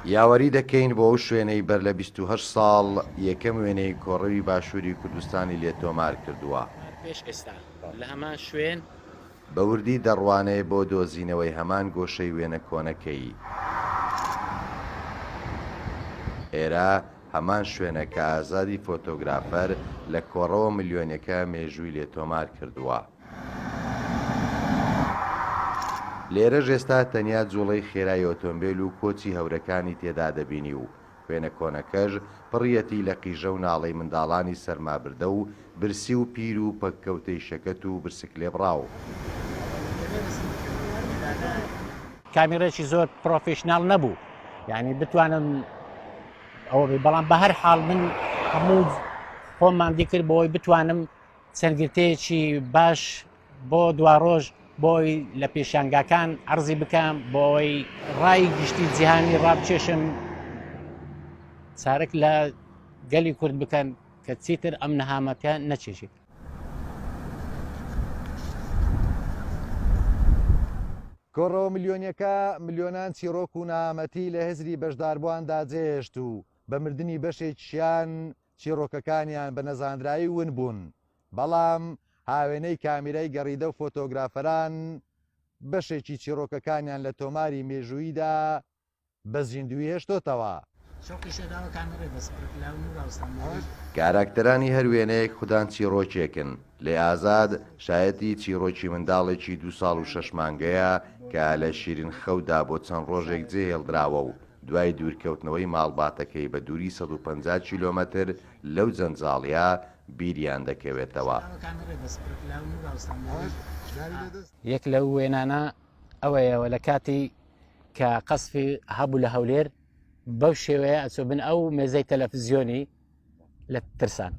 یاوەری دەکەین بۆ ئەو شوێنەی بەر لە بیست و هەشت ساڵ یەکەم وێنەی کۆڕەوی باشووری کوردستانی لێ تۆمار کردووە. پێش ئێستا لە هەمان شوێن. بە وردی دەڕوانێ بۆ دۆزینەوەی هەمان گۆشەی وێنە کۆنەکەی. ئێرە هەمان شوێنە کە ئازادی فۆتۆگرافەر لە کۆڕەوە ملیۆنیەکە مێژووی لێ تۆمار کردووە. لێرەش ئێستا تەنیا جوڵەی خێرای ئۆتۆمبێل و کۆچی هەورەکانی تێدا دەبینی و وێنە کۆنەکەش پڕیەتی لە قیژە و ناڵەی منداڵانی سەرمابردە و برسی و پیر و پەککەوتەی شەکەت و برسکلێبڕاو. کامیڕێکی زۆر پڕۆفیشناڵ نەبوو یانی بتوانم ئەوە بێ بەڵام بە هەر حاڵ من هەموو خۆماندی کرد بۆی بتوانم چەند گرتەیەکی باش بۆ دوارۆژ بۆی لە پێشانگاکان عرضی بکەم بۆی ڕای گشتی جیهانی ڕابچێشم چارەک لە گەلی کورد بکەن کە چیتر ئەم نەهامەتە نەچێژێت کۆڕەوە ملیۆنیەکە ملیۆنان چیڕۆک و نامەتی لە هزری بەشداربوواندا جێهێشت و بە مردنی بەشێکیان چیڕۆکەکانیان بە نەزانرایی ون بوون، بەڵام هاوێنەی کامیرای گەڕیدە و فۆتۆگرافەران بەشێکی چیڕۆکەکانیان لە تۆماری مێژووییدا بە زیندووی هێشتۆتەوە. کاراکتەرانی هەر وێنەیەک خودان چیڕۆکێکن، لێ ئازاد شایەتی چیڕۆکی منداڵێکی دوو ساڵ و شەش مانگەیە کە لە شیرین خەودا بۆ چەند ڕۆژێک جێهێڵدراوە و دوای دوورکەوتنەوەی ماڵباتەکەی بە دووری سەد و پەنجا کیلۆمەتر لەو جەنجاڵییە بیریان دەکەوێتەوە. یەک لەو وێنانە ئەوەیە و لەکاتی کە قەسفی هەبوو لە هەولێر بەو شێوەیە ئەچۆ بن ئەو مێزەی تەلەفزیۆنی لە ترسان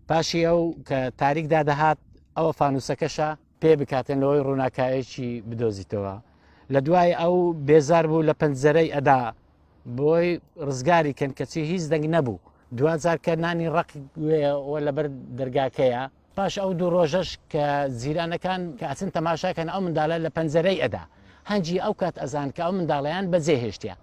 پاشی ئەو کە تاریکدا دەهات ئەوە فانوسەکەشە پێ بکاتن لەوەی ڕووناکایەکی بدۆزیتەوە لە دوای ئەو بێزار بوو لە پەنجەرەی ئەدا بۆی ڕزگاری کەن کەچی هیچ دەنگ نەبوو دوجار کە نانی ڕق وێەوە لەبەر دەرگاکەیە پاش ئەو دوو ڕۆژەش کە زیرانەکان کە ئەچن تەماشاکەن ئەو منداالە لە پەنجەرەی ئەدا هەنجی ئەو کات ئەزان کە ئەو منداڵەیان بە جێ هێشتیە.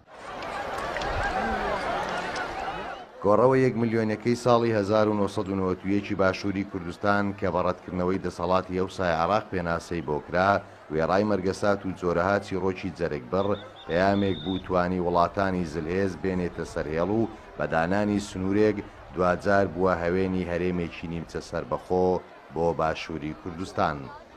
کۆڕەوە یەک ملیۆنیەکەی ساڵی هەزار و نۆ سەد و نەوەد و یەک ی باشووری کوردستان کە بە ڕەتکردنەوەی دەسەڵاتی ئەوسای عێڕاق پێناسەی بۆ کرا، وێڕای مەرگەسات و جۆرەها چیڕۆکی جەرگبڕ، پەیامێک بوو توانی وڵاتانی زلهێز بێنێتە سەر هێڵ و بە دانانی سنوورێک، دواجار بووە هەوێنی هەرێمێکی نیمچە سەربەخۆ بۆ باشووری کوردستان.